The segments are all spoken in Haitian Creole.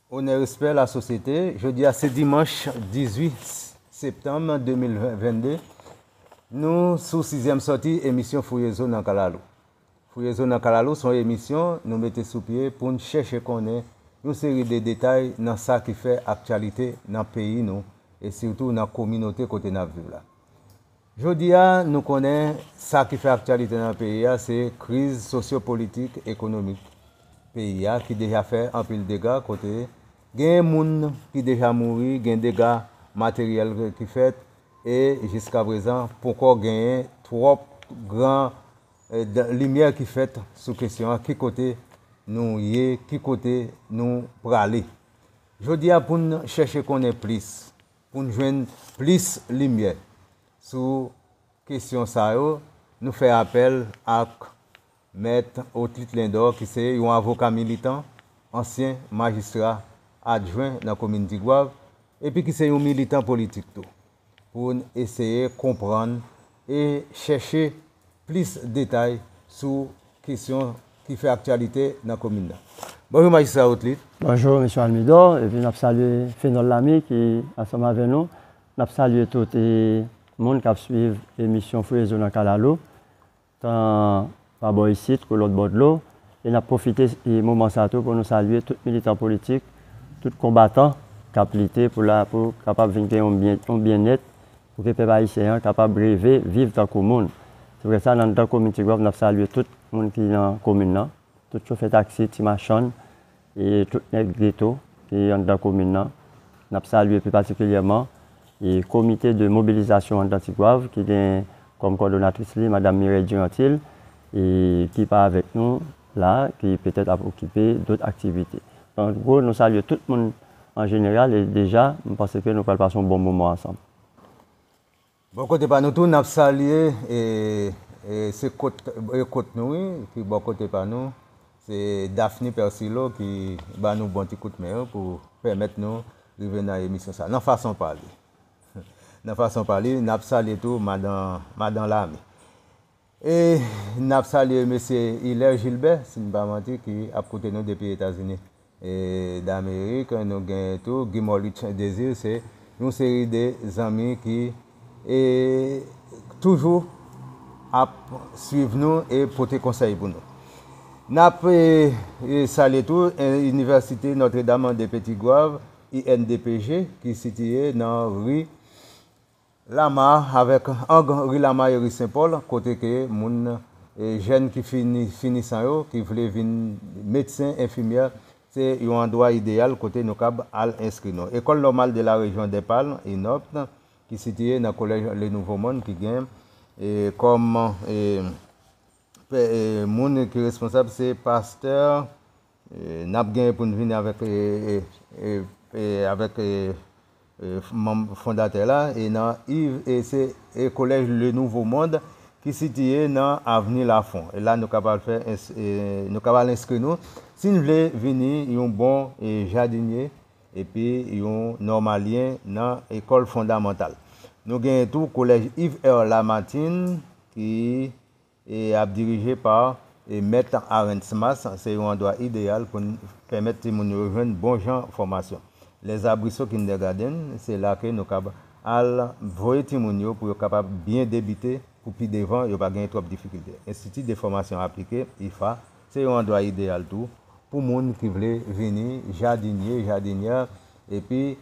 Onè respè la sosyete, jodi a se dimanch 18 septanm 2022, nou sou sizyèm sòti emisyon Fouye Zo nan Kalalou. Fouye Zo nan Kalalou s on emisyon nou mete sou pye pou n chèche konnen yon seri de detay nan sa ki fè aktyalite nan peyi nou e sitou nan kominote kote n ap viv la. Jodi a, nou konnen sa ki fè aktyalite nan peyi a se kriz sosyopolitik, ekonomik peyi a ki deja fè anpil dega kote genyen moun ki deja mouri, gen dega materyèl ki fèt e jiskaprezan ponkò genyen twòp gran limyè ki fèt sou kesyon an ki kote nou ye, ki kote nou prale. Jodi a pou n chèche konnen plis. Pou n jwenn plis limyè sou kesyon sa yo, nou fè apèl ak Mèt Otlit Lindor ki se yon avoka militan, ansyen majistra adjwen nan komin Tigwav epi ki se yon militan politik tou, pou n eseye konprann e chèche plis detay sou kesyon ki fè aktyalite nan komin nan. Bonjou Majistra Otlit. Bonjou Mesye Almidor, epi n ap salye Fenòl Lame ki ansanm avè nou. N ap salye tout moun k ap suiv emisyon Fouye Zo nan Kalalou, tan pa bò isit kou lòt bò dlo. E n ap pwofite moman sa a tou pou nou salye tout militan politik, tout konbatan k ap lite pou kapab vin gen yon byennèt Pou ke pèp ayisyen an kapab reve viv tankou moun. Se pou tèt sa nan dan komin Tigwav nap salye tout moun ki nan komin nan, tout chofè taksi, ti machann, e tout nèg geto ki anndan komin nan. Nap salye pi patikilyèman e komite de mobilizasyon anndan Tigwav ki gen kòm kòdonatris li madam Mireille Durantil e ki pa avèk nou. la ki petèt ap okipe dot aktivite. An gwo nou salye tout moun an jeneral e deja m panse ke nou pral pase yon bon moman ansanm. Bò kote pa nou tou nap salye e se kot e kot nou wi ki bò kote pa nou se Daphne Persilo ki ba nou bon ti kout men yo pou pèmèt nou rive nan emisyon sa nan fason pa li nan fason pa li nap salye tou madan madan Lame. E n ap salye Mesye Hilaire Gilbert, si m pa manti, ki ap koute nou depi Etazini Damerik. Nou gen tou Guy Molich Desir, se yon seri de zanmi ki toujou ap swiv nou e pote konsèy pou nou. N ap salye tou Inivèsite Notre Dame de Petit Goâve, INDPG, ki sitiye nan ri. Lama avèk ang ri lama e ri senpòl kote ke moun jèn ki fini finisan yo ki vle vin medsen, enfimyè se yon andwa ideyal kote nou kab al enskri nou. Ecole normale de la région des palmes, ENORP, ki sitiye nan collège le nouveau monde ki gen kòm pè moun ki responsab se Pasteur. N ap gen pou n vini avèk manm fondatè la e nan iv e se e kolèj Le Nouveau Monde ki sitiye nan avni Lafon. E la nou kab al fè e nou kab al enskri nou si n vle vini yon bon e jadinye epi yon nòmalyen nan ekòl fondamantal. Nou genyen tou kolèj Iv Èr Lamatinn ki e ap dirije pa e Mèt Arens Mas, se yon andwa ideyal pou n pèmèt timoun yo jwenn bon jan fòmasyon. Les Arbrisseaux Kindergarten, se la ke nou kab al voye timoun yo pou yo kapab byen debite pou pi devan yo pa genyen twòp difikilte. Institut de Formation Appliquée, IFA, se yon andwa ideyal tou pou moun ki vle vini jadinye, jadinyè epi.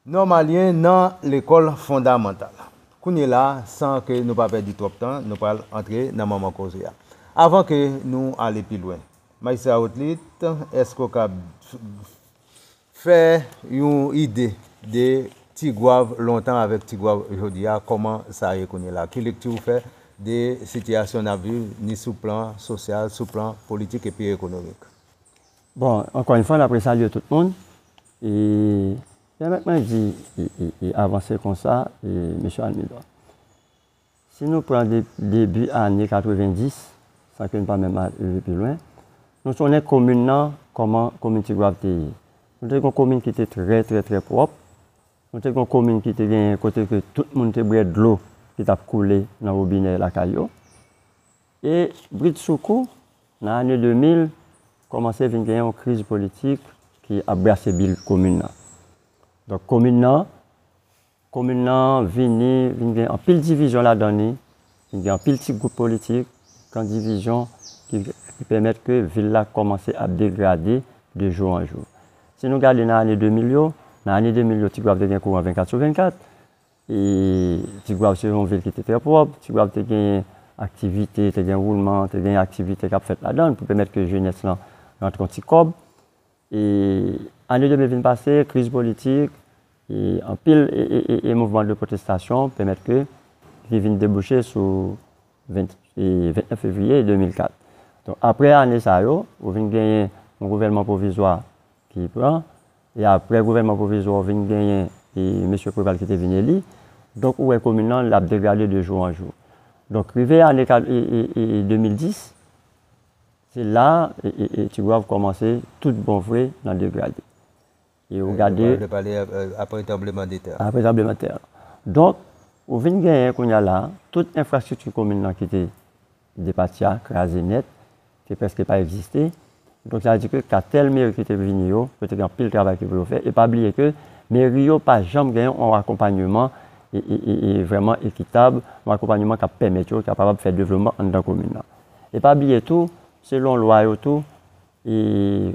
Nòmalyen nan lekòl fondamantal. Kounye la a, san ke nou pa pèdi twòp tan, nou pral antre nan manman koze a. Avan ke nou ale pi lwen, Majistra Rotlitt, èske ou kab fè yon ide de Tigwav lontan avèk Tigwav jodi a, kòman sa ye kounye la? Ki lekti ou fè de sitiyasyon n ap viv ni sou plan sosyal, sou plan politik epi ekonomik? Bon, ankò yon fwa n ap resalye tout moun. E pèmèt mwen di e avanse kon sa, e Mesye Almidor. Si nou pran de debi ane 90, san ke n pa menm ale pi lwen, nou sonnen komin nan, kòman komin Tigwav te ye. Nou te gen yon komin ki te trè trè trè pwòp. Nou te gen yon komin ki te genyen kote ke tout moun te bwè dlo ki t ap koule nan wobinè lakay yo. E bridsoukou, nan ane 2000, kòmanse vin gen yon kriz politik ki ap brase bil komin nan. Donk komin nan, komin nan vini, vin gen anpil divizyon ladan ni, vin gen anpil ti gwoup politik, kan divizyon ki pèmèt ke vil la kòmanse ap degrade de jou an jou. Si nou gade nan ane 2000 yo, nan ane 2000 yo Tigwav te gen kouran 24 sou 24, E Tigwav se yon vil ki te trè pwòp. Tigwav te genyen aktivite, te gen woulman, te genyen aktivite k ap fèt ladan l pou pèmèt ke jenès lan rantre yon ti kòb. E ane 2000 vin pase, kriz politik, e anpil e mouvman de pwotestasyon pèmèt ke li vin debouche sou 29 fevriye 2004. Donk apre ane sa yo, ou vin genyen yon gouvènman pwovizwa ki pran. E aprè gouvènman pwovizwa ou vin genyen e mesye Preval ki te vin eli. Donk ou wè komin lan l ap degrade de jou an jou. Donk rive ane 2010, se la e Tigwav kòmanse tout bon vre nan degrade. E ou gade. Ou pale aprè tranbleman de tè. Aprè tranbleman de tè. Donk ou vin genyen kounya la tout enfrastrikti komin lan ki te Depati a kraze nèt, te prèske pa egziste. Donk sa vle di ke katèl meri ki te vini yo, yo te gen anpil travay ki pou yo fè. E pa bliye ke meri yo pa janm gen yon akonpanyeman e vrèman ekitab, yon akonpanyeman k ap pèmèt yo, k ap kapab fè devlopman anndan komin nan. E pa bliye tou, selon lwa yo tou, e.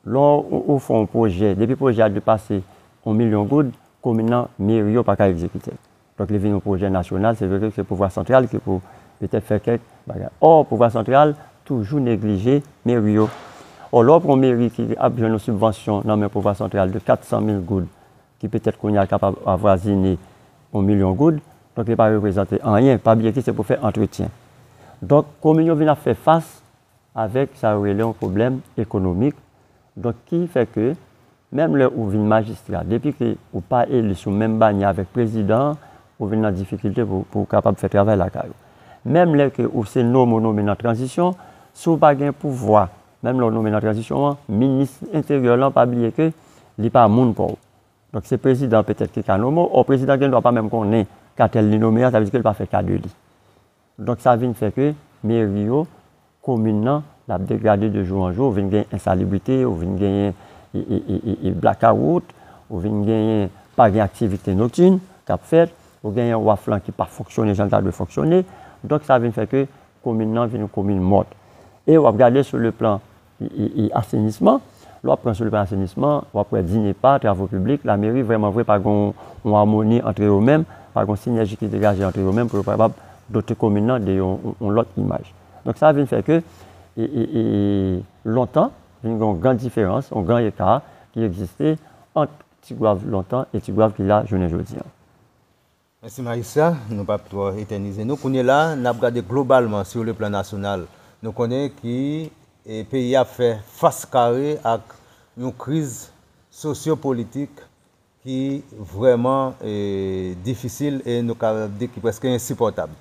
Lò ou fè yon pwojè, depi pwojè a depase yon milyon goud, komin nan, meri yo pa ka egzekite l. Donk li vin yon pwojè nasyonal, se vre ke se pouvwa santral ki pou petèt fè kèk bagay. Ò, pouvwa santral toujou neglije meri yo. Ò, lè w pran yon meri ki ap jwenn yon sibvansyon nan men pouvwa santral de 400 mil goud, ki petèt kounye a kapab avwazine yon milyon goud, donk li pa reprezante anyen, pa bliye ke se pou fè antretyen. Donk, komin yo vin ap fè fas avèk sa yo rele yon pwoblèm ekonomik, donk ki fè ke menm lè ou vin majistra depi ke ou pa eli sou menm banyè avèk prezidan an ou vin nan difikilte pou ou kapab fè travay lakay ou. Menm lè ke ou se nome ou nome nan tranzisyon, si ou pa gen pouvwa menm lè ou nome nan tranzisyon an, minis enteryè lan pa bliye ke li pa moun pa w. Donk se prezidan an petèt ki ka nome w, ò prezidan an gen dwa pa menm konnen ka tèl li nome a, sa vle di ke li pa fè ka de li. Donk sa vin fè ke meri yo, komin nan l ap degrade de jou an jou, ou vin gen ensalibrite, ou vin genyen e blakawout, ou vin genyen pa gen aktivite noktin k ap fèt, ou genyen waf lan ki pa fonksyone jan l ta dwe fonksyone, donk sa vin fè ke komin nan vin yon komin mòt. E w ap gade sou le plan e asenisman, lè w ap pran sou depatman asenisman, w ap wè DINEPA, Travo Piblik, Lameri vrèman vre pa gen yon amoni antre yo menm, pa gen yon sinèji ki degaje antre yo menm pou yo kapab dote komin nan de yon lòt imaj. Donk sa vin fè ke e lontan vin gen yon gran diferans, yon gran eka ki egziste ant Tigwav lontan e Tigwav ki la jounen jodi an. Mèsi Maïssa, nou pap twò etènize nou. Kounye la, n ap gade globalman sur le plan nasyonal. Nou konnen ki peyi a ap fè fas kare ak yon kriz sosyopolitik ki vrèman difisil e nou ka di ki prèske ensipòtab.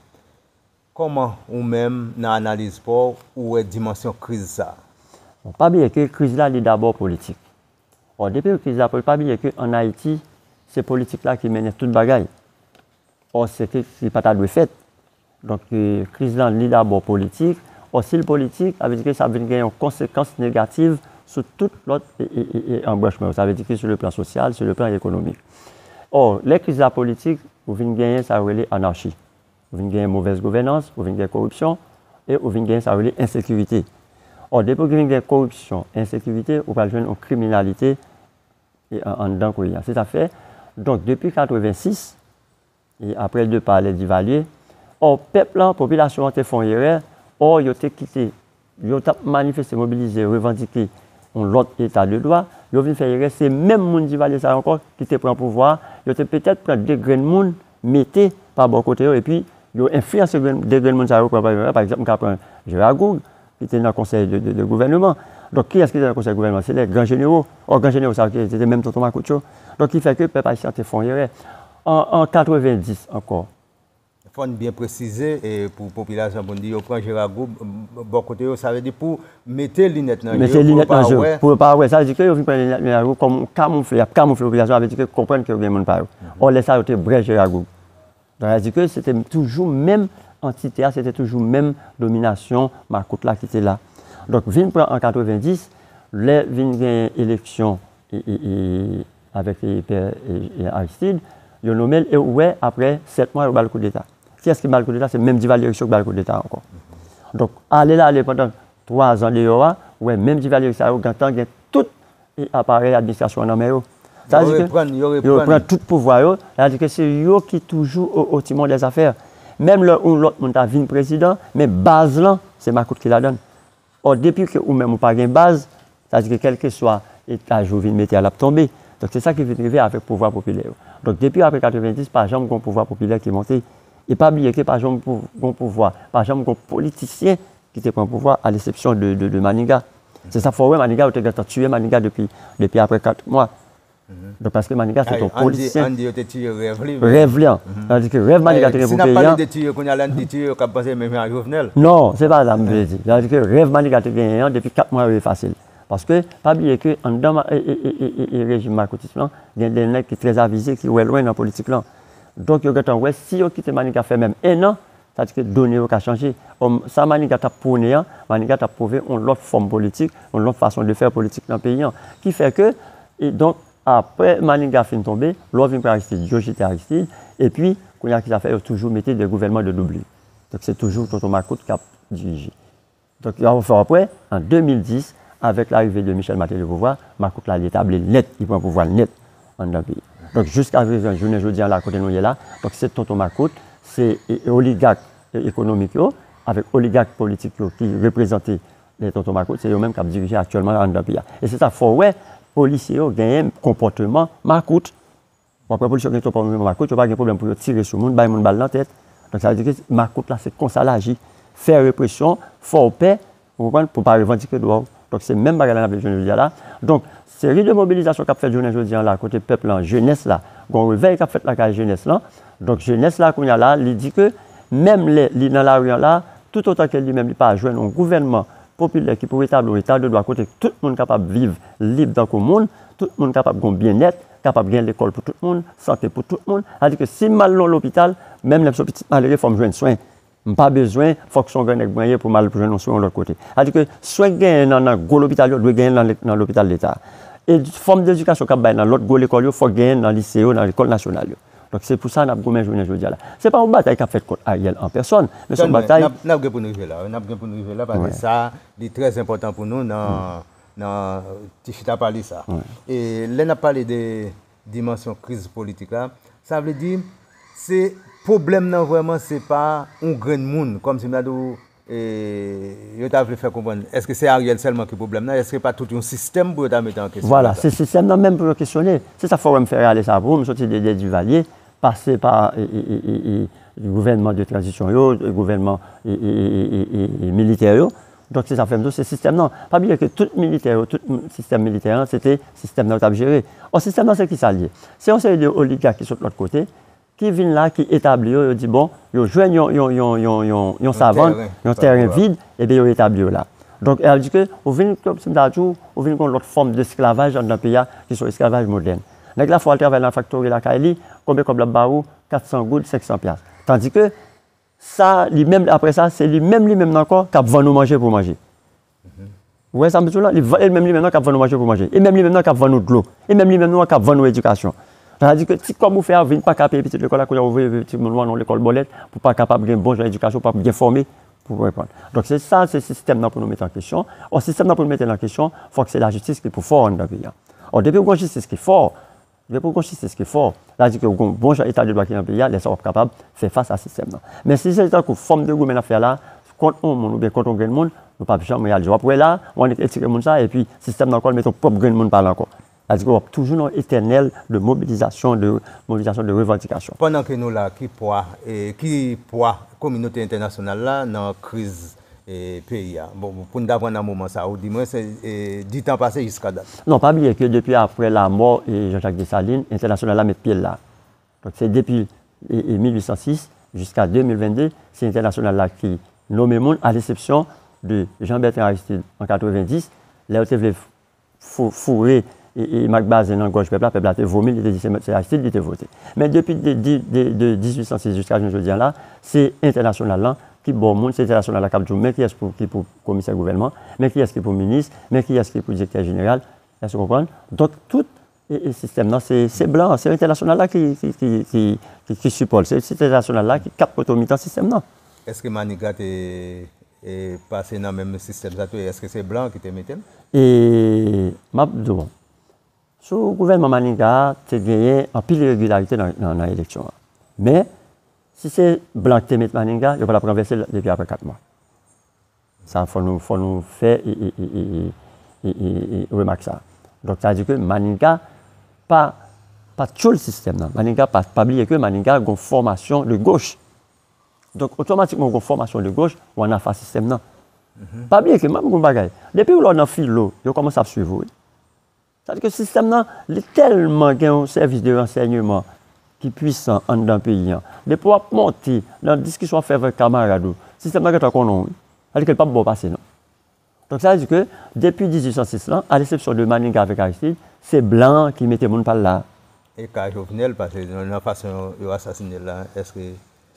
Kòman ou menm nan analiz paw ou wè dimansyon kriz sa? Bon pa bliye ke kriz la li dabò politik. Or depi kriz la pa bliye ke an Ayiti se politik la ki mennen tout bagay. Or se ke se pa ta dwe fèt. Donk kriz la li dabò politik. Or si li politik sa vle di ke sa ap vin gen yon konsekans negativ sou tout lòt anbranchman yo. Sa vle di ke sou le plan sosyal, sou le plan ekonomik. Or lè kriz la politik ou vin genyen sa yo rele anarchi. Ou vin genyen movèz gouvènans, ou vin gen koripsyon, e ou vin genyen sa yo rele ensekirite. Ò depi ou vin gen koripsyon, ensekirite, ou pral jwenn yon kriminalite e anndan peyi a. Se sa k fè, donk depi 86, e aprè depa lè Divalye, ò pèp lan, popilasyon an te fè yon erè, ò yo te kite Yo tap manifeste mobilize revandike yon lòt eta de dwa, yo vin fè erè se menm moun Divalye sa yo ankò ki te pran pouvwa a, yo te petèt pran 2 grenn moun mete pa bò kote yo epi yo enfliyanse 2 grenn moun sa yo pran pa yo, pa egzanp m ka pran Jera Goug ki te nan konsèy de gouvèneman, donk kiyès ki te nan konsèy de gouvèneman se lè gran jenero, ò gran jenero sa yo se te menm tonton makout yo, donk ki fè ke pèp ayisyen an te fè yon erè an 90 ankò. Fò n byen presize pou popilasyon pou n di yo pran Jera Gou bò kote yo, sa vle di pou mete linèt nan je yo pou yo pa wè. Sa vle di ke yo vin pran linèt Jera Gou kòm yon kamoufle, y ap kamoufle popilasyon an, sa vle di ke konprann ke yo gen moun pa yo. Ò lè sa yo te brè Jera Gou. Donk sa vle di ke se te toujou menm antite a, se te toujou menm dominasyon makout la ki te la. Donk vin pran an 90, lè vin genyen eleksyon. avèk pè Aristide yo nomel e ou wè aprè 7 mwa yo bal koudeta kiyès ki bal koudeta se menm Divalyeris yo ki bal koudeta ankò donk ale la ale pandan 3 zan deyò a ou wè menm Divalyeris sa yo gentan gen tout aparèy administrasyon an nan men yo sa vle di ke yo repran tout pouvwa yo sa vle di ke se yo ki toujou o timon dèzafè menm lè yon lòt moun ta vin prezidan men baz lan se makout ki ladann. Or depi ke ou menm ou pa gen baz, sa di ke kelkeswa etaj ou vin mete a lap tonbe. Donk se sa ki vin rive avek pouvwa popilè yo. Donk depi apre 90 pa janm gon pouvwa popilè ki monte. E pa bliye ke pa janm gon pouvwa, pa janm gon politisyen ki te pran pouvwa a lesepsyon de Maniga. Se sa fè w wè Maniga yo te gentan tiye Maniga depi apre 4 mwa. Donk paske Maniga se te yon polisyen. Andy yo te tiye rèv li. Rèv li an. Tandis ke rèv Maniga te gen pou peyi an. Si n ap pale de tiye kounya la n di tiye yo k ap panse menm jan ak Jovenel. Non, se pa sa m vle di. Tandis ke rèv Maniga te genyen an depi 4 mwa yo efase l. Paske pa bliye ke anndan rejim Markotis lan gen de nèg ki trèzavize ki wè lwen nan politik lan. Donk yo gentan wè si yo kite Maniga fè menm 1 an Sa vle di ke done yo ka chanje. Ò, sa Manigat ap pwone an, Manigat ap pwove yon lòt fòm politik, yon lòt fason de fè politik nan peyi an. Ki fè ke, e donk, apre Manigat fin tonbe, lè w vin pran Aristide, yo jete Aristide, epi, kounye a ki sa fè yo toujou mete de gouvènman de doublure. Donk se toujou tonton makout k ap dirije. Donk yon fò aprè, an 2010, avèk larive de Michel Martelly o pouvwa, makout la li etabli l nèt, li pran pouvwa l nèt anndan peyi a. Donk jiska prezan, jounen jodi a la kote nou ye la, donk se tonton makout, se oligak ekonomik yo avèk oligak politik yo ki reprezante tonton makout, se yo menm k ap dirije aktyèlman anndan peyi a. E se sa k fè w wè polisye yo genyen konpòteman makout. Bon aprè polis yo gen twòp moun makout yo pa gen pwoblèm pou yo tire sou moun bay moun bal nan tèt donk sa vle di ke makout la se konsa l aji fè represyon fè w pè ou konprann pou w pa revandike dwa w donk se menm bagay la n ap viv jounen jodi a la donk seri de mobilizasyon k ap fèt jounen jodi an la kote pèp lan jenès la gon revèy k ap fèt lakay jenès lan donk jenès la kounye a la li di ke menm lè li nan lari an la toutotan ke li menm li pa jwenn yon gouvènman popilè ki pou retabli yon eta de dwa kote tout moun kapab viv lib tankou moun tout moun kapab gon byennèt kapab gen lekòl pou tout moun, sante pou tout moun, sa vle di ke si m al nan lopital, menm lè m se yon pitit malere fò m jwenn swen, m pa bezwen fòk se yon grannèg mwen ye pou m al jwenn yon swen yon lòt kote. Sa vle di ke swen k genyen nan nan gwo lopital yo dwe genyen nan lopital leta. Edi, fòm dedikasyon k ap bay nan lòt gwo lekòl yo fòk genyen nan lise yo, nan lekòl nasyonal yo. Donk se pou sa n ap goumen jounen jodi a la. Se pa yon batay k ap fèt kont Ariel an pèsòn, men se yon batay. Tande, n ap gen pou n rive la wi, n ap gen pou n rive la paske sa li trè enpòtan pou nou nan. nan ti chita pale sa. E lè n ap pale de dimansyon kriz politik la, sa vle di se pwoblèm nan vrèman se pa yon grenn moun kòm si m ta di w yo ta vle fè konprann èske se Ariel sèlman ki pwoblèm nan, èske pa tout yon sistèm pou yo ta mete an kesyon. Vwala, se sistèm nan menm pou yo kesyone. Se sa k fè w wè m fè rale sa pou m soti de lè Divalye, pase pa gouvènman de tranzisyon yo, gouvènman militè yo. Donk se sa fè m di w se sistèm nan. Pa bliye ke tout militè yo, tout sistèm militè an, se te sistèm nan yo t ap jere. Ò sistèm nan se ki sa l ye? Se yon seri de oligak ki sot lòt kote, ki vin la, ki etabli yo, yo di bon, yo jwenn yon yon yon yon yon yon savann, yon tèren vid, epi yo etabli yo la. Donk sa vle di ke ou vin, kòm si m ta di w, ou vin gen yon lòt fòm desklavaj anndan peyi a, ki se yon esklavaj modèn. Nèg la fè w al travay nan faktori lakay li, konbyen kòb l ap ba ou? 400 goud, 500 pyas. Tandike, Sa li menm apre sa se li menm li menm nan ankò kap vann ou manje pou manje ou wè sa map di w la e menm li menm nan kap vann ou manje pou manje e menm li menm nan kap vann ou dlo e menm li menm nan kap vann ou edikasyon sa di ke ti kòb ou fè a ou vin paka peye pitit lekòl la kounye a ou voye pitit moun ou nan yon lekòl bòlèt pou pa kapab gen bon jan edikasyon pou pa byen fòme pou reponn donk se sa se sistèm nan pou nou mete an kesyon ò sistèm nan pou nou mete l an kesyon fòk se lajistis ki pou fò anndan peyi a ò depi ou gon jistis ki fò Lè pou w gen yon jistis ki fò, sa di ke ou gen yon bon jan eta de dwa ki nan peyi a, lè sa w ap kapab fè fas a sistèm nan. Men si se tankou fòm de goumen n ap fè a la, kont yon moun oubyen kont yon grenn moun, nou p ap janm reyalize. W ap wè la, w annik etire moun sa a epi sistèm nan ankò l mete yon pwòp grenn moun pa l ankò. Sa di ke w ap toujou nan yon etènèl de mobilizasyon, de mobilizasyon, de revandikasyon. Pandan ke nou la, ki pwa, ki pwa kominote entènasyonal la nan kriz peyi a. Bon, pou n ta pran nan moman sa a, ou di mwen se di tan pase jiska dat. Non, pa bliye ke depi apre lamò Jean Jacques Dessalines, entènasyonal la met pye l la. Donk se depi 1806 jiska 2022, se entènasyonal la ki nome moun, alesepsyon de Jean Bertrand Aristide an 90, lè yo te vle. foure Mak Bazen nan gòj pèp la, pèp la te vomi l, li te di se Aristide li te vote. Men depi de 1806 jiska jounen jodi an la, se entènasyonal lan ki ba w moun, se entènasyonal la k ap di w men kiyès ki pou komisè gouvènman, men kiyès ki pou minis, men kiyès ki pou direktè jeneral, èske w konprann? Donk tout E sistèm nan se blan an, se entènasyonal la ki sipò l, se entènasyonal la ki ap pote mitan sistèm nan. Eske Maniga te pase nan menm sistèm sa tou e eske se blan an ki te mete l? E m ap di w, sou gouvènman Maniga a te genyen anpil iregilarite nan eleksyon an. Men, si se blan ki te mete Maniga, yo pa t ap ranvèse l depi apre 4 mwa. Sa fò nou fò nou fè remak sa. Donk sa vle di ke Maniga pa pa tyoul sistèm nan. Maniga pa pa bliye ke Maniga gon fòmasyon de goch. Donk otomatikman ou gon fòmasyon de goch ou anafa sistèm nan. Pa bliye ke map di nou yon bagay. Depiw lè w nan filo yo kòmanse ap swiv ou wi. Sa di ke sistèm nan li tèlman gen yon sèvis de ransèyneman ki pwisan anndan peyi an. Depi w ap monte nan diskisyon w ap fè avèk kamarad ou, sistèm nan gentan konnen w wi. Sa di ke l pap ba w pase non. Donk sa di ke depi 1806 lan, a lesepsyon de Maniga avèk Aristid, se blan an ki mete moun pa l la. E ka Jovenel, pase nan fason yo asasine l la, èske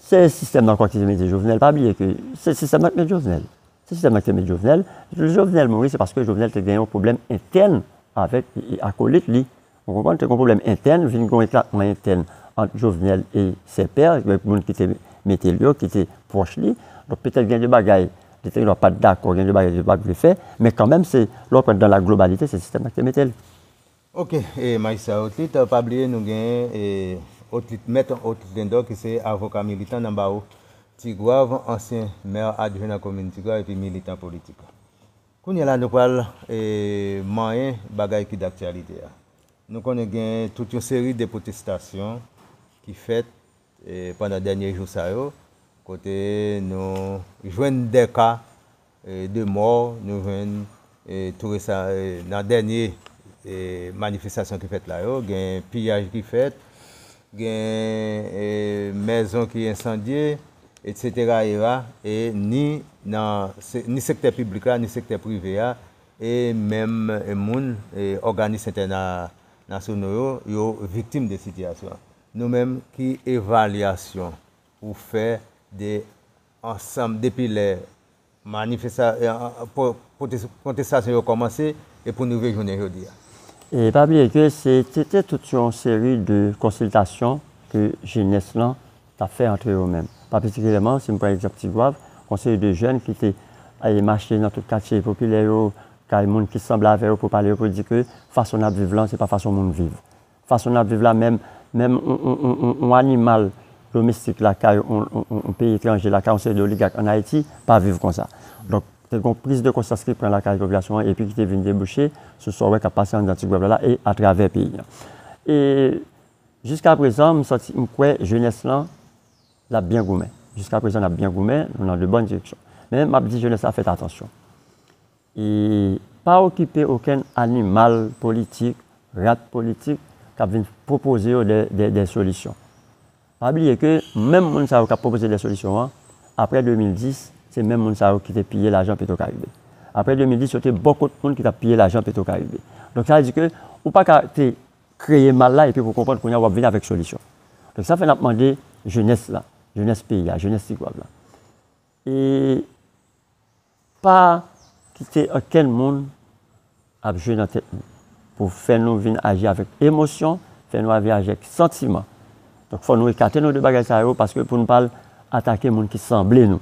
Se sistèm nan ankò ki te mete Jovenel, pa bliye ke se sistèm nan ki met Jovenel. Se sistèm nan ki te met Jovenel. Lè Jovenel mouri se paske Jovenel te gen yon pwoblèm entèn avèk akolit li. Ou konprann? Te gen yon pwoblèm entèn, vin gen yon eklatman entèn ant Jovenel e Sè Pè, avèk moun ki te mete l yo, ki te pwòch li. Donk petèt gen de bagay li te gen dwa pa t dakò, gen de bagay li te pa t vle fè, men kanmenm se, lè w pran dan la globalite, se sistèm nan ki te mete l. Ok Maisha Otlit pa bliye nou gen Otlit Mèt Otlit Lindor ki se avoka militan nan bawo Tigwav, ansyen Maire Adjoint nan komin Tigwav epi militan politik. Kounye la nou pral manyen bagay ki daktyalite a. Nou konnen gen tout yon seri de pwotestasyon ki fèt pandan dènye jou sa yo kote nou jwenn 2 ka 2 mò nou jwenn tou resan nan dènye manifestasyon ki fèt la yo, gen piyaj ki fèt, gen mèzon ki ensandye, etsetera era e ni nan ni sektè piblik la ni sektè prive a e menm moun òganis entènasyono yo, yo viktim de sitiyasyon an. Nou menm ki evalyasyon ou fè de ansanm depi lè pwotestasyon yo kòmanse e pou n rive jounen jodi a. E pa bliye ke se te te tout yon seri de konsiltasyon ke jenès lan t ap fè antre yo menm. Pa patikilyèman, si m pran egzanp Tigwav, gon seri de jèn ki te mache nan tout katye popilè yo, kay moun ki sanble avè yo pou pale yo pou di ke fason n ap viv lan se pa fason moun viv. Fason nap viv la menm menm yon animal domestik lakay yon peyi etranje lakay yon seri de oligak an Ayiti pa viv konsa. Donk te gon priz de konsyans ki pran lakay popilasyon an epi ki te vin debouche sou sa w wè kap pase anndan ti gwèv la la e atravè peyi an. E jiska prezan m santi m kwè jenès lan lap byen goumen. Jiska prezan nap byen goumen, nou nan de bòn direksyon. Men map di jenès la fèt atansyon. E pa okipe okenn animal politik, rat politik kap vin pwopoze yo dè solisyon. Pa bliye ke menm moun sa yo kap pwopoze dè solisyon an, apre 2010, se menm moun sa yo ki te piye lajan Petro Caribe. Apre 2010, yo te bò kot moun ki tap piye lajan Petro Caribe. Donk sa vle di ke ou pa ka te kreye mal la epi pou konprann kounye a wap vin avèk solisyon. Donk sa fè nap mande jenès la, jenès peyi a, jenès Tigwav la. E. Pa kite okenn moun ap jwe nan tèt nou pou fè nou vin aji avèk emosyon, fè nou avi ajèk santiman. Donk fò nou ekate nou de bagay sa yo paske pou nou pa al atake moun ki sanble nou.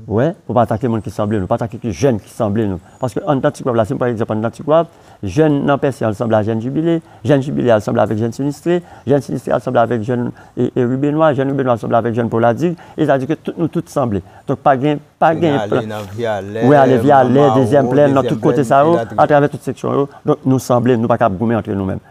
Ou wè, pou pa atake moun ki sanble nou, pa atake ki jèn ki sanble nou. Paske anndan Tigwav la, si m pran egzanp anndan Tigwav, Jèn nan pèsi an sanble a jèn jibile, jèn jibile a sanble avèk jèn sinistre, jèn sinistre a sanble avèk jèn ribenwa, jèn ribenwa a sanble avèk jèn poladig, e sa di ke tout nou tout sanble. Donk pa gen, pa gen plan. Mwen ale nan Vyalè, Mwen ale Vyalè, dezyèm plèn, nan tout kote sa yo, atravè tout seksyon yo, donk nou sanble, nou pa kab goumen antre nou menm.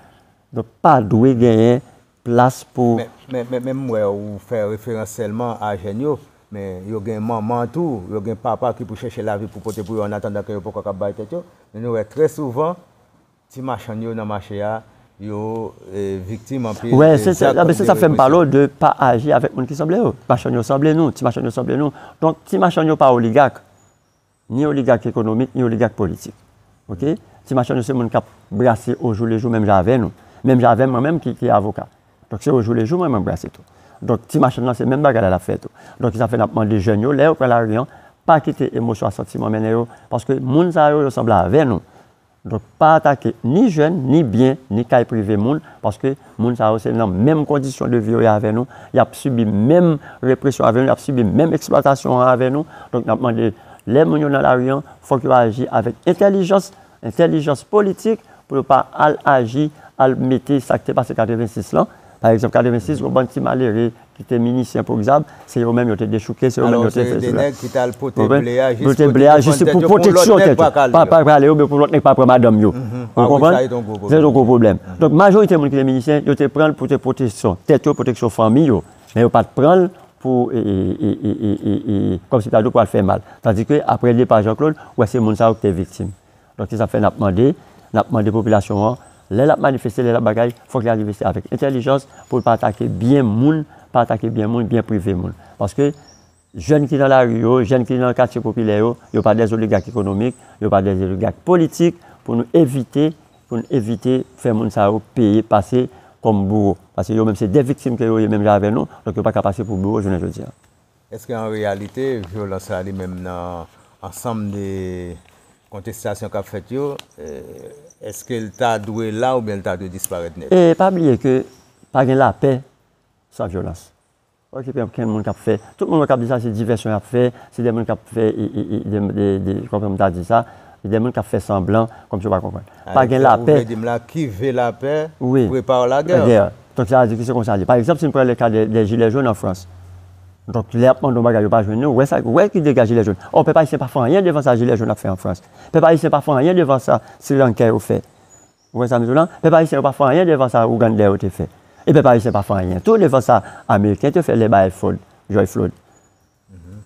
Donk pa dwe genyen plas pou. Men m wè ou fè referans sèlman a jèn yo, men yo gen manman tou, yo gen papa ki pou chèche lavi pou pote pou yo annatandan ke yo poko kab bay tèt yo. Men nou wè trè souvan ti machann yo nan mache a, yo viktim anpil de zak de represyon. Wè, se sa k fè m pale w de pa aji avèk moun ki sanble yo. Machann yo sanble nou, ti machann yo sanble nou. Donk ti machann yo pa oligak. Ni oligak ekonomik, ni oligak politik. Ok? Ti machann yo se moun kap brase o jou le jou menm jan avè nou. Menm jan avèm mwen menm ki ki avoka. Donk se o jou le jou mwen mwen brase tou. Donk ti machann lan se menm bagay la lap fè tou. Donk ki sa fè nap mande jèn yo lè yo pran lari an, pa kite emosyon ak santiman mennen yo. Paske moun sa yo yo sanble avè nou. Donk pa atake ni jèn, ni byen, ni kay prive moun, paske moun sa yo se nan menm kondisyon de vi yo ye avè nou, y ap sibi menm represyon avè nou, y ap sibi menm eksplwatasyon an avè nou. Donk n ap mande lè moun yo nan lari an, fòk yo aji avèk entèlijans, entèlijans politik pou yo pa al aji, al mete sa k te pase 86 lan. Pa egzanp 86 gen yon bann ti malere ki te minisyen pou Xab, se yo menm yo te dechouke, se yo menm yo te fè sila. Ou konprann? Yo te ble a jis pou pwoteksyon tèt yo. Pa pran ale yo, men pou lòt nèg pa pran madanm yo. Ou konprann? Sa se yon gwo pwoblèm. Donk, majorite moun ki te minisyen, yo te pran l pou te pwoteksyon tèt yo, pwoteksyon fanmi yo. Men yo pa t pran l pou, kòmsi ta di pou al fè mal. Tandike, apre depa Janklod, ou wè se moun sa yo ki te viktim. Donk se sa k fè n ap mande, n ap mande popilasyon an, lè l ap manifeste, lè l ap bagay, fòk li arive se avèk entèlijans pou l pa atake byen moun, pa atake byen moun, byen prive moun. Paske jèn ki nan lari yo, jèn ki nan katye popilè yo, yo pa dè zoligak ekonomik, yo pa dè zoligak politik pou nou evite, pou nou evite fè moun sa yo peye, pase kòm bouwo. Paske yo menm se dè viktim ke yo ye menm jan avè nou, donk yo pa ka pase pou bouwo jounen jodi a. Èske an reyalite vyolans la li menm nan ansanm de kontestasyon k ap fèt yo, èske l ta dwe la oubyen l ta dwe disparèt nèt? E pa bliye ke pa gen lapè san vyolans. Ok pa gen moun k ap fè, tout moun wè k ap di sa se divèsyon y ap fè, se de moun k ap fè de, kòman pou m ta di sa, de moun k ap fè sanblan kòmsi yo pa konprann. Pa gen lapè. Ou vle di m la, Qui veut la paix prépare la guerre. Donk sa vle di ki se konsa l ye. Pa egzanp si n pran le ka dè jilè jòn an Frans. Donk lè y ap mande yon bagay yo pa jwenn li, w wè ki dega jilè jòn. Ò pèp ayisyen pa fè anyen devan sa jilè jòn ap fè an Frans. Pèp ayisyen pa fè anyen devan sa srilankè yo fè. Ou konprann sa m di w lan? Pèp ayisyen yo pa fè anyen devan sa ougandè yo te fè. E pèp ayisyen pa fè anyen tou devan sa ameriken te fè lè bay Floyd, George Floyd.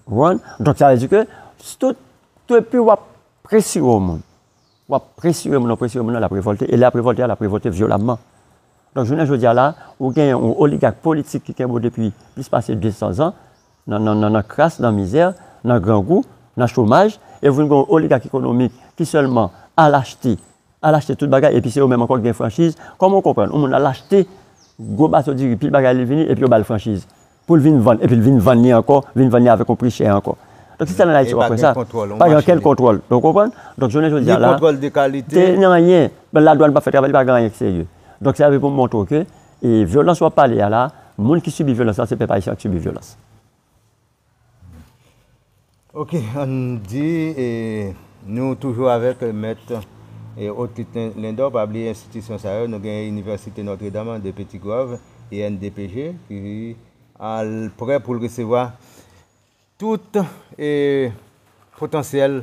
Ou konprann? Donk sa vle di ke tout, depi w ap presire yon moun. W ap presire moun an, presire moun an, l ap revòlte, e lè ap revòlte a, l ap revòlte vyolamman. Donk jounen jodi a la, ou gen yon oligak politik ki kenbe w depi plis pase 200 zan, nan kras, nan mizè, nan grangou, nan chomaj, e ou vin gen yon oligak ekonomik ki sèlman al achte, al achte tout bagay, epi se yo menm ankò ki gen franchiz, kòman ou konprann yon moun al achte gwo bato diri, pil bagay li vini, epi yo ba l franchiz? poul vin vann epil vin vann li ankò vin vann li avèk yon pri chè ankò donk se sèl an ayiti wap wè sa pa gen okenn kontwòl ou konprann donk jounen jodi a la te ni anyen la dwann pa fè travay li pa gen anyen ki serye donk sa se pou montre w ke vyolans wap pale a la moun ki sibi vyolans la se pèp ayisyen an ki sibi vyolans. Ok ann di e nou toujou avèk mèt e Ottit Lindor pa bliye enstitisyon sa yo nou gen inivèsite Notre Dame an de Petit Goâve INDPG ki al prè poul resevwa tout e potansyèl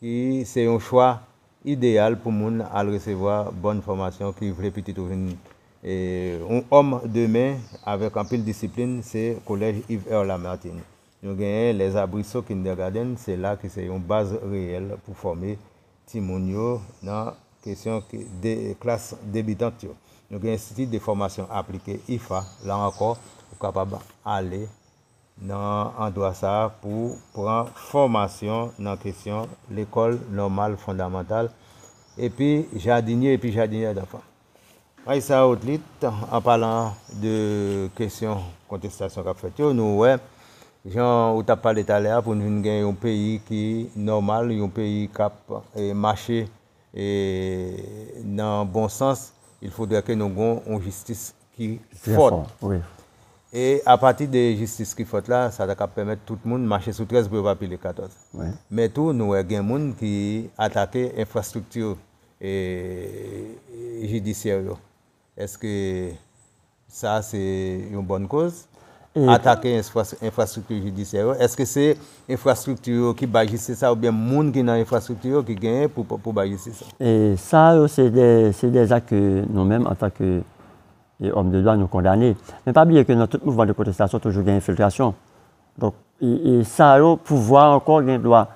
ki se yon chwa ideyal pou moun al resevwa bòn fòmasyon ki vle pitit ou vin yon òm demen avèk anpil disiplin se Collège Yves-Heure Lamartine. Nou genyen Les Arbrisseaux Kindergarten, se la ki se yon baz reyèl pou fòme timoun yo nan kesyon klas debitant yo. Nou gen Institut de Formation Appliquée, IFA, la ankò ou kapab ale. nan andwa sa a pou pran fòmasyon nan kesyon lekòl nòmal fondamantal epi jadinye epi jadinyè danfan. Raissa Outlit, An palan de kesyon kontestasyon k ap fèt yo, nou wè, jan ou t ap pale talè a, pou n vin gen yon peyi ki nòmal, yon peyi k ap mache nan bon sans, il faudrait ke nou gen yon jistis ki fòt. E apati de jistis ki fòt la, sa ta ka pèmèt tout moun mache sou 13 pou yo pa pile 14. Men tou nou wè gen moun ki atake enfrastrikti jidisyè yo. Eske sa se yon bòn koz? atake enfrastrikti jidisyè yo, èske se enfrastrikti yo ki bay jistis la oubyen moun ki nan enfrastrikti yo ki genyen pou bay jistis la? Sa yo se de zak ke nou menm antan ke òm de dwa nou kondane. Men pa bliye ke nan tout mouvman de pwotestasyon toujou gen enfiltrasyon. Donk sa yo pouvwa ankò gen dwa.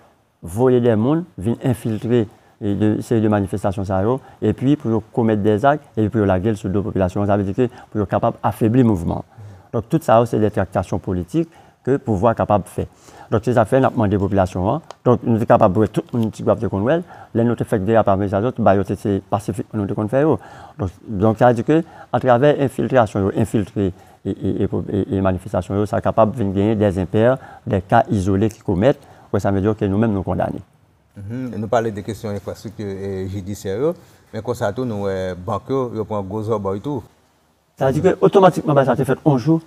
voye dè moun vin enfiltre de seri de manifestasyon sa yo epi pou yo komèt dè zak epi pou yo lage l sou do popilasyon an, sa vle di ke pou yo kapab afebli mouvman an. Donk tout sa yo se dè traktasyon politik ke pouvwa kapab fè. Donk se sa k fè n ap mande popilasyon an, donk nou te kapab wè tout moun Tigwav te konn wè l, lè nou te fèk derape avèk zazòt ba yo te se pasifikman nou te konn fè yo. Donk donk sa vle di ke atravè enfiltrasyon yo enfiltre e e e manifestasyon yo sa kapab vin genyen dè enpè, dè ka izole ki komèt Wè sa vle di ok nou menm nou kondane. Nou pale de kesyon enfrastrikti jidisyè yo, men konsa tou nou wè bank yo, yo pran gwo zòbòy tou. Sa vle di ke otomatikman bagay sa te fèt yon jou,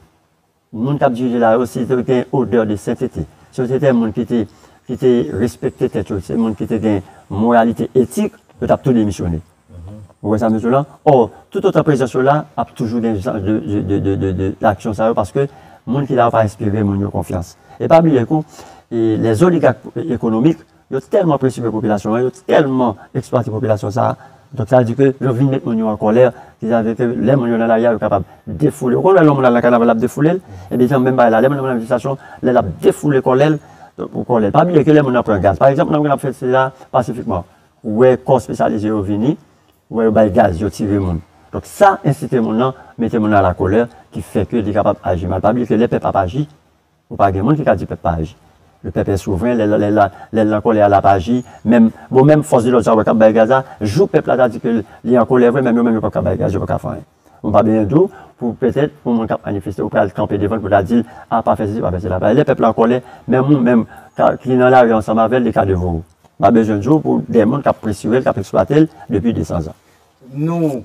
moun kap dirije la yo si yo te gen yon odè de sentete, si yo te gen moun ki te ki te respekte tèt yo, se moun ki te gen moralite etik, yo tap tou demisyone. Ou wè sa mezw la? Or, tout otan prezans yo la, ap toujou gen jan de de aksyon sa yo paske moun ki la yo pa enspire moun yo konfyans. E pa bliye tou, les oligarques économiques yo tèlman presire popilasyon an, yo tèlman eksplwate popilasyon sa a, donk sa vle di ke yo vin met moun yo an kòlè, ki sa vle ke lè moun yo nan lari a yo kapab defoule. Ou konn wè lè yon moun al nan kanaval lap defoule l? Ebyen se menm bagay la, lè moun nan manifestasyon, lè lap defoule kòlè l pou kòlè l. Pa bliye ke lè moun nan pran gaz, pa egzanp nan moun nan ap fè sila pasifikman. Ou wè kò spesyalis yo yo vini, ou wè yo bay gaz, yo tire moun. Donk sa ensite moun nan, mete moun nan a la kolè ki fè ke li kapab aji mal. Pa bliye ke lè pèp ap aji, ou pa gen moun ki ka di pèp pa aji. Le pèp è souvren, lè lè la, lè l nan kolè a l ap aji. Menm, bon menm fòs de lòd sa ou wè k ap bay gaz la, jou pèp la ta di ke li an kolè vre menm yo menm yo p ap ka bay gaz, yo p ap ka fè anyen. Ou pa benyen dou pou petèt pou moun kap manifeste ou pral kanpe devanl pou ta dil a pa fè sesi pa fè sela bay lè pèp la an kòlè menm ou menm ki nan lari ansanm avèl li ka devan ou pa bezwen dou pou dè moun kap presirel kap eksplwatel depi 200 zan. Nou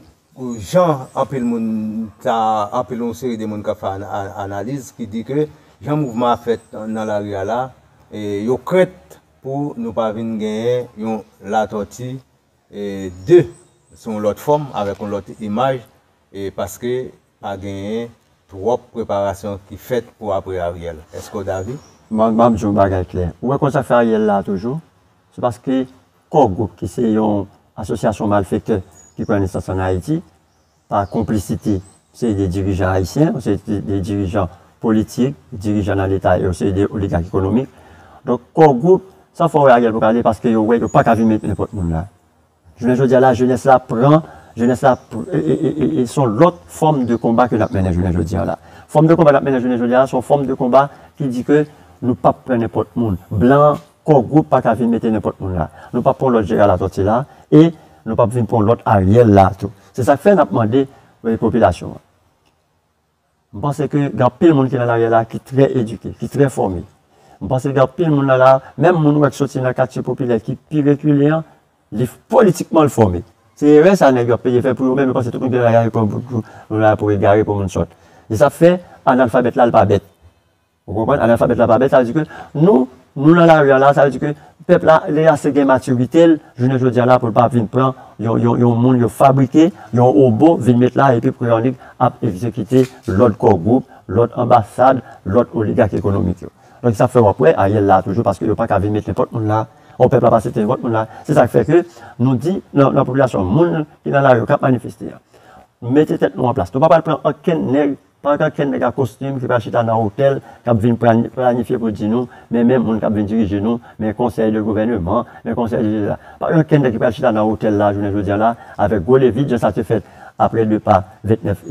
jan anpil moun ta anpil yon seri de moun kap fè analiz ki di ke jan mouvman a fèt nan lari a la yo krent pou nou pa vin genyen yon Latòti 2 sou yon lòt fòm avèk yon lòt imaj paske pa genyen twòp preparasyon ki fèt pou apre Ariel. Eske w davi? Bon m ap di w yon bagay klè. Ou wè koz zafè Ariel la toujou? Se paske Core Group ki se yon asosyasyon malfektè ki pran nesans an Ayiti pa konplisite yon seri de dirijan ayisyen, yon seri de dirijan politik, dirijan nan leta e yon seri de oligak ekonomik. Donk Core Group, sa w fè w wè Ariel pou kale paske yo wè yo pa ka vin met nenpòt moun la. Jounen jodi a la jenès la pran, jenès la e son lòt fòm de konba ke n ap mennen jounen jodi a la. Fòm de konba n ap mennen jounen jodi a la son fòm de konba ki di ke nou p ap pran nenpòt moun. Blan Core Group pa ka vin mete nenpòt moun la. Nou pap pran lòt Gérard Latortue la e nou pap vin pran lòt Ariel la tou. Se sa k fè n ap mande popilasyon an. M panse ke gen anpil moun ki nan lari a la ki trè edike, ki trè fòme. M panse gen anpil moun nan la a, menm moun ou wè k soti nan katye popilè ki pi rekile an, li politikman l fòme. Se erè sa nèg yo ap peye fè pou yo menm yo panse tout moun ki nan lari a se pou yo, nou la pou egare, pou moun sòt. Se sa k fè analfabèt la l pa bèt. Ou konprann? Analfabèt la pa bèt, sa vle di ke nou, nou lan lari a la, sa vle di ke pèp la li ase gen matirite l jounen jodi a la pou l pa vin pran yon, yon, yon moun yo fabrike, yon wobo vin met la epi pou yon lig ap egzekite lòd kò gwoup, lòd anbasad, lòd oligak ekonomik yo. Donk se sa k fè w ap wè Ariel la toujou paske yo pa ka vin met nenpòt moun la, o pèp la pa asepte nenpòt moun la, se sa k fè ke nou di nan, nan popilasyon moun ki lan lari yo k ap manifeste a, mete tèt nou an plas, nou pa pral pran okenn nèg Pa ka ken nèg a kostim ki pa chita nan otèl k ap vin planifye pou di nou men men moun k ap vin dirije nou, men konsèy de gouvèneman, men konsèy de sesi la. Pa ka ken nèg ki pral chita nan otèl la jounen jodi an la avèk gwo levit jan sa te fèt apre depa 29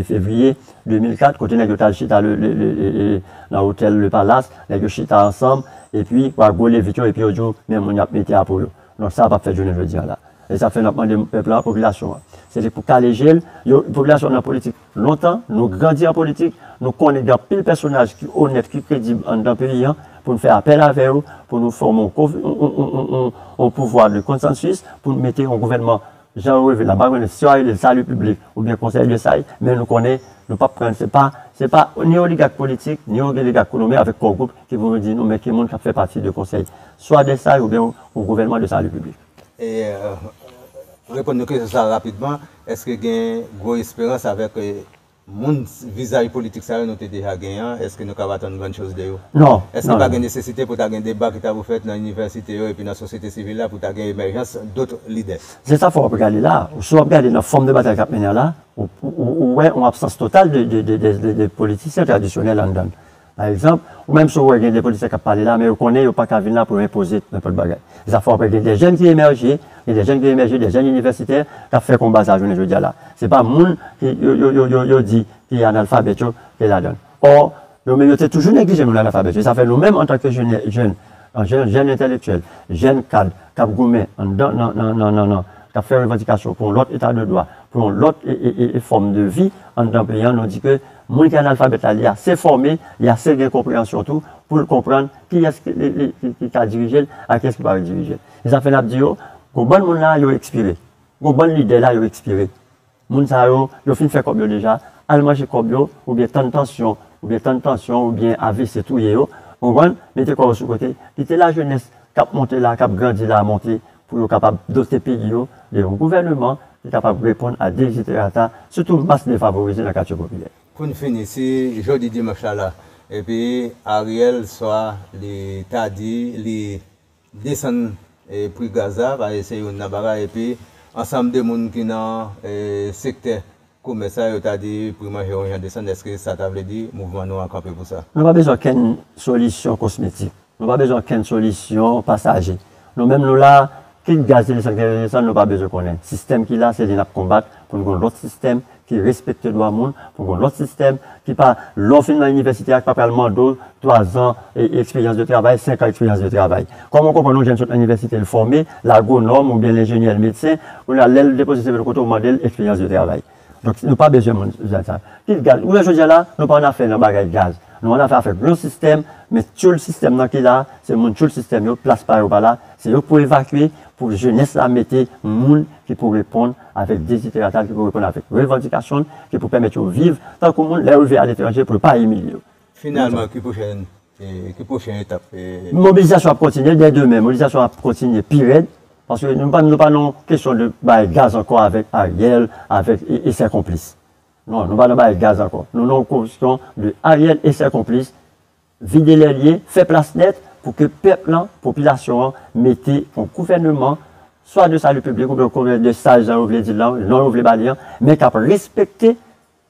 fevriye 2004 kote nèg yo t al chita le nan otèl le palas, nèg yo chita ansanm epi pou ak gwo levit yo epi yo di w men moun y ap mete a pou yo. Donk sa a pa p fèt jounen jodi an la. E sa fè n ap mande pèp la, popilasyon an se li pou kale je l, yo popilasyon an nan politik. Lontan, nou grandi an politik, nou konnen gen anpil pèsonaj ki onèt, ki kredib anndan peyi an, pou n fè apèl avè yo, pou nou fòme yon ko, yon pouvwa de konsansis, pou n mete yon gouvènman jan yo reve la. M pa konnen si yo a rele l sali piblik oubyen konsèy de saj, men nou konnen nou p ap pran, se pa, se pa ni oligak politik, ni oligak ekonomik avèk kò gwoup ki pou vin di nou men ki moun k ap fè pati de konsèy swa de saj oubyen yon gouvènman de sali piblik. Reponn nou kesyon sa a rapidman, Èske gen gwo esperans avèk moun vizaj politik sa yo nou te deja gen an? Èske nou kab atann grann choz de yo? Non. Èske pa gen nesesite pou ta gen deba ki ta pou fèt nan inivèsite yo epi nan sosyete sivil la pou ta gen emèjans dotre lidè? Se sa fò w ap gade la a. Si w ap gade nan fòm de batay k ap mennen an la a, ou wè yon absans total de politisyen tradisyonèl anndan l. Pa egzanp, ou menm si w wè gen de politisyen k ap pale la men yo konnen yo pa ka vin la pou yo enpoze nenpòt bagay. Zafè w ap wè gen de jèn ki emèje, gen de jèn ki emèje, de jèn inivèsitè k ap fè konba sa jounen jodi a la. Se pa moun ki yo yo di ki analfabèt yo ki ladan l. Ò, yo menm yo te toujou neglije moun analfabèt yo. Sa fè nou menm antanke jenè jèn, jèn entelektyèl, jèn kad k ap goumen anndan nan nan nan nan k ap fè revandikasyon pou yon lòt eta de dwa, pou yon lòt e e e fòm de vi anndan peyi an nou di ke Moun ki analfabèt la, li ase fòme, li ase gen konpreyansyon tou pou l konprann kiyès ki ka dirije l ak kiyès ki pa ka dirije l. Se sa fè n ap di yo, gwo bann moun la yo ekspire. Gwo bann lidè la yo ekspire. Moun sa yo, yo fin fè kòb yo deja, al manje kòb yo oubyen tann pansyon, oubyen tann pansyon oubyen avc touye yo, ou konprann, mete kò yo sou kote, kite lajenès k ap monte la, k ap grandi la monte pou yo kapab dote peyi yo de yon gouvèneman ki kapab reponn a deziderata sitou mas defavorize nan katye popilè. Pou n fini, si jodi dimanch la la epi Ariel swa li ta di li desann pri gaz la, paske se youn nan bagay epi ansanm de moun ki nan sektè Komès sa yo ta di pri manje yon jan desann eske sa ta vle di mouvman nou an kanpe pou sa? Nou pa bezwen okenn solisyon kosmetik, nou pa bezwen okenn solisyon pasaje. Nou menm nou la, kit gaz te desann kit te desann nou pa bezwen konnen. Sistèm ki la se li nap konbat pou n gon lòt sistèm ki respekte dwa moun, pou gon lòt sistèm ki pa lè w fin nan inivèsite a ki pa pral mande w 3 zan eksperyans de travay, 5 an eksperyans de travay. Kòm ou konprann yon jèn sot nan inivèsite l fòme, l agwonòm ou byen l enjenyè l medsen, kounye a lè l depoze CV l kote ou mande l eksperyans de travay. Donk nou pa bezwen moun jan sa. Kit gaz, ou wè jodi a la, nou pa annafè nan bagay gaz. Nou annafè avèk yon sistèm, men tyoul sistèm nan ki la, se moun tyoul sistèm yo, plas pa yo pa la, se yo k pou evakye, pou jenès la mete moun ki pou reponn avèk deziderata l, ki pou reponn avèk revandikasyon l, ki pou pèmèt yo viv tankou moun lè yo rive aletranje pou yo pa imilye yo. Finalman, ki pwochèn Ki pwochen etap? Mobilizasyon ap kontinye dè demen, mobilizasyon ap kontinye pi rèd, paske nou pa nan yon kesyon de bay gaz ankò avèk Ariel, avèk e sè konplis. Non, nou pa nan bay gaz ankò, nou nan yon kosyon de Ariel e sè konplis vide lèlye, fè plas nèt pou ke pèp lan, popilasyon an mete yon gouvèneman swa de sali piblik oubyen yon gouvèneman de saj jan yo vle di l lan, non yo vle ba li an, men k ap respekte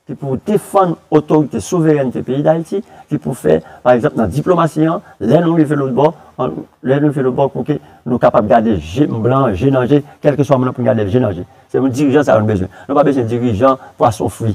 ki pou defann otorite souverènte peyi Dayiti, ki pou fè, pa egzanp, nan diplomasi an, lè nou rive lòt bò, lè nou rive lòt bò pou ke nou kapab gade je blan, je nan je, kèlkeswa moun nan pou n gade l je nan je. Se yon dirijan sa yo nou bezwen. Nou pa bezwen dirijan pwason fri,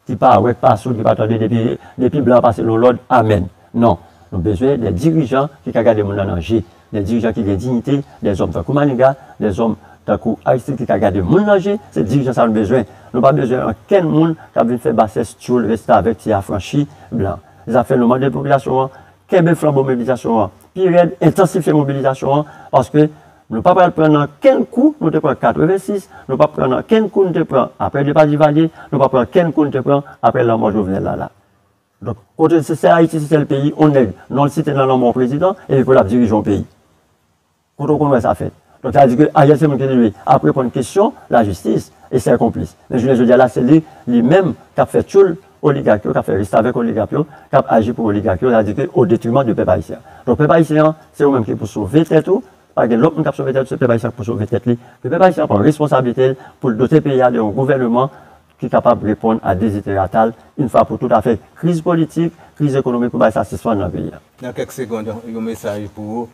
ki pa wè, ki pa soud, ki pa tande depi, depi blan an pase l yon lòd, amèn. Non. Nou bezwen de dirijan ki ka gade moun nan nan je, Dè dirijan ki gen dignite, dè zòm tankou Maniga, dè zòm tankou Aristide ki ka gade moun nan je, se dirijan sa nou bezwen. Nou pa bezwen ankenn moun k ap vin fè basès tyoul restavèk ti afranchi blan. Zafè nou mande popilasyon an kenbe flanbo mobilizasyon an pi rèd, entansifye mobilizasyon an paske nou pa pral pran nan kenn kou nou te pran 86, nou p ap pran nan kenn kou nou te pran aprè depa Divalye, nou p ap pran kenn kou nou te pran aprè lanmò Jovenel la la. Donk kote se sè ayiti se sèl peyi on nèg non l site nan lanmò on prezidan epi pou l ap dirije on peyi kote w konn wè sa fèt donk sa vle di ke Ariel se moun ki rive ap reponn kesyon lajistis e sè konplis men jounen jodi a la se li li menm k ap fè tchoul oligak yo k ap fè restavèk oligak yo k ap aji pou oligak yo sa vle di ke o detriman de pèp ayisyen an donk pèp ayisyen an se ou menm ki pou sove tèt ou pa gen lòt moun k ap sove tèt ou se pèp ayisyen an k pou sove tèt li ke pèp ayisyen an pran responsablite l pou l dote peyi a de on gouvèneman ki kapab reponn a dezideratal yn fwa pou tout afè kriz politik, kriz ekonomik pou bay sa sispann nan peyi a. Nan kèk segond yon mesaj pou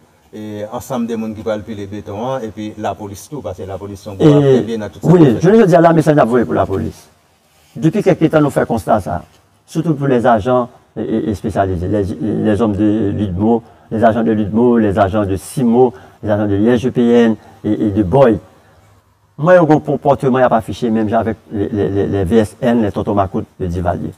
ansanm de moun ki pral pile beton an epi lapolis tou paske lapolis son gwo aktè vye nan tout sa kap fèt la. Wi, jounen jodi a la mesaj nap voye pou lapolis depi kèlke tan nou fè konsta sa sitou pou les agents espesyalize les hommes de Ludmo, les agents de Ludmo, les agents de Cimo, les agents de l'IGPN et de Boy M'en yo gon konpòteman y'ap afiche menm jan avèk lè VSN, lè tonton makout yo Divalye.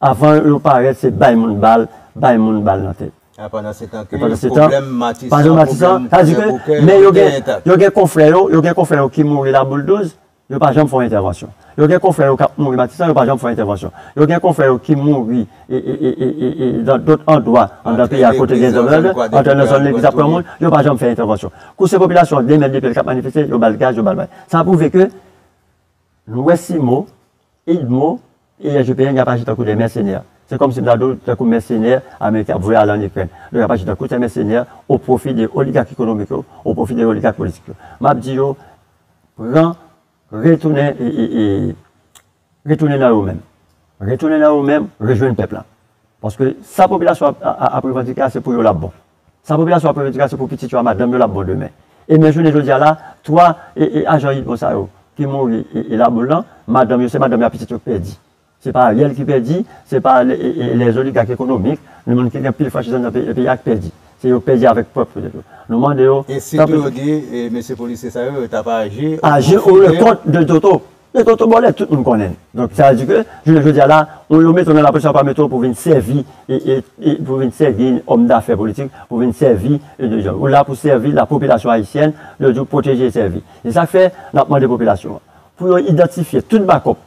Avan yo parèt se bay moun bal, bay moun bal nan tèt. E pandan se tan ke pwoblèm Matisan, pwoblèm Kolè Bokè yo rete entak. Yo gen konfrè yo, yo gen konfrè yo ki mouri laboul douz, yo pa janm fè yon entèvansyon. Yo gen konfrè yo k'ap mouri Matisan, yo pa janm fè yon entèvansyon. Yo gen konfrè yo ki mouri e nan dòt andwa anndan peyi a kote gen dezòd, antre nan zòn legliz ap pran moun, yo pa janm fè entèvansyon. Kou se popilasyon an demède ke l k ap manifeste, yo ba l gaz, yo ba l bagay. Sa pwouve ke nou wè Simo, Edmo e SGPN y ap aji tankou de mèsenè. Se kòmsi m ta di w tankou mèsenè ameriken ap voye ale ann Ikrèn. Donk y ap aji tankou de mèsenè o pwofi de oligak ekonomik yo, o pwofi de oligak politik yo. M ap di yo pran retounen e. Retounen nan yo menm. Retounen nan yo menm, rejwenn pèp la. Paske sa popilasyon ap revandike a se pou yo l ap bon. Sa popilasyon ap revandike a se pou pitit yo ak madanm yo l ap bon demen. E men jounen jodi a la, 3 ajan Idmo sa yo ki mouri e laboul lan, madanm yo, se madanm yo ak pitit yo ki pèdi. Se pa Ariel ki pèdi, se pa lè oligak ekonomik, ni moun ki gen pil franchiz anndan peyi a ki pèdi. Se yo pèdi avèk pwòp tèt yo. Nou mande yo. E sitou yo di mesye polisye sa yo, yo t ap aji. Aji o le kont de Toto. Nan Toto Bòlèt, tout moun konnen l. Donk, sa vle di ke, jounen jodi a la, ou yo mete w nan lapolis, yo pa mete w pou w vin sèvi, pou w vin sèvi òmdafè politik, pou w vin sèvi de zòn. Ou la pou w sèvi lapopilasyon ayisyèn, yo di w pwoteje e sèvi. Se sa k fè, n ap mande popilasyon an, pou yo idantifye tout bakòp,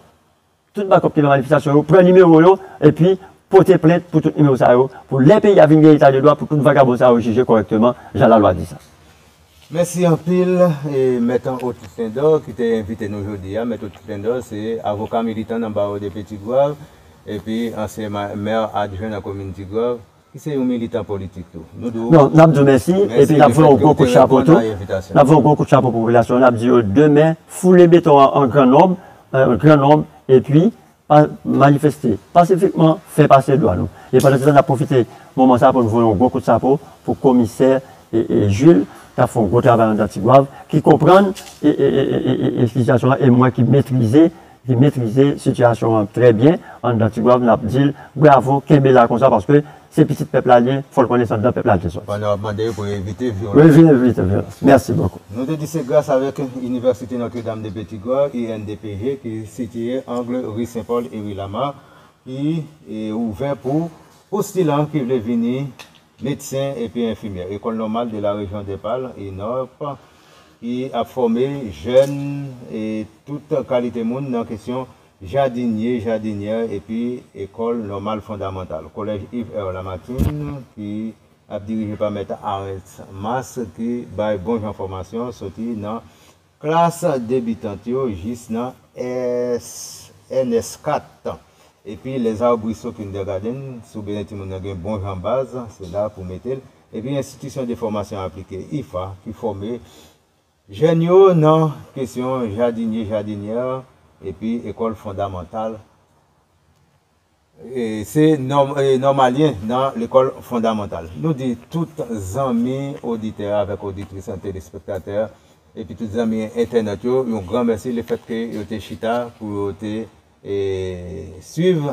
tout bakòp ki nan manifestasyon yo, pran nimewo yo, epi pote plent pou tout nimewo sa yo, pou lè peyi a vin gen eta de dwa, pou tout vagabon sa yo jije kòrèkteman, jan lalwa di sa. Mèsi anpil Mèt an Otis Lindor ki te envite nou jodi a. Mèt Otis Lindor se avoka militan nan Bawo de Petit-Goâve epi ansyen Mè adjwen nan komin Tigwav ki se yon militan politik tou. Nou di w Non, n ap di w mèsi epi n ap voye yon gwo kout chapo tou. N ap voye yon gwo kout chapo pou popilasyon an. N ap di yo demen foule beton an an gran nonb, an gran nonb epi Pa manifeste pasifikman fè pase dwa nou. E pandan se tan nap pwofite moman sa pou n voye yon gwo kout chapo pou komisè Jules kap fè yon gwo travay andan Tigwav ki konprann sitiyasyon an e mwen ki metrize ki metrize sitiyasyon an trè byen andan Tigwav nap di l bravo kenbe la konsa paske Se pitit pèp la li ye, fò l konnen se anndan pèp la l te soti. Pandan w ap mande yo pou yo evite vyolans. Wi, vin evite vyolans. Mèsi bokou. Nou te di se gras avèk Inivèsite Notre Dame de Petit Goâve, INDPG, ki sitiye angle ri Sen Pòl e ri Lama, ki ouvè pou postilan ki vle vini medsen epi enfimyè. Ecole Normale de la Région des Palmes, ENORP, ki ap fòme jèn e tout kalite moun nan kesyon Jadinye, Jadinyè epi Ekòl Nòmal Fondamantal, Collège Yves R. Lamartine, ki ap dirije pa Mèt Arens Mas, ki bay bon jan fòmasyon soti nan klas debitant yo jis nan ENS 4. Epi Les Arbrisseaux Kindergarten, si w bezwen timoun nan gen bon jan baz, se la pou w mete l. Epi Enstitisyon de Fòmasyon Aplike, IFA, ki fòme. Jèn yo nan kesyon jadinye jadinyè epi ekòl fondamantal se nòmalyen nan lekòl fondamantal nou di tout zanmi oditè avèk oditris an telespektatè epi tout zanmi entènèt yo yon gran mèsi lefètke yo te chita pou yo te swiv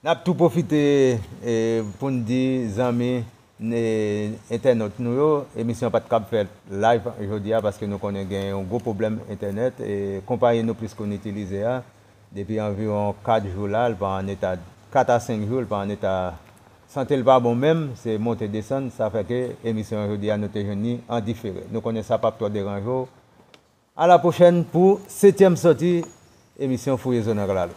Nap tou pwofite poun di zanmi entènot nou yo emisyon pat kab fèt live jodia paske nou konnen gen yon gwo pwoblèm entènèt konpayi nou plis koun itilize a depi anviwon 4 jou la l pa an eta 4 a 5 jou l pa an eta sante l pa bon menm se monte desann sa fè ke emisyon jodia nou te jwenn ni an difere nou konnen sa pap twò deranje w a la pwochèn pou setyèm sòti emisyon fouye zone rral.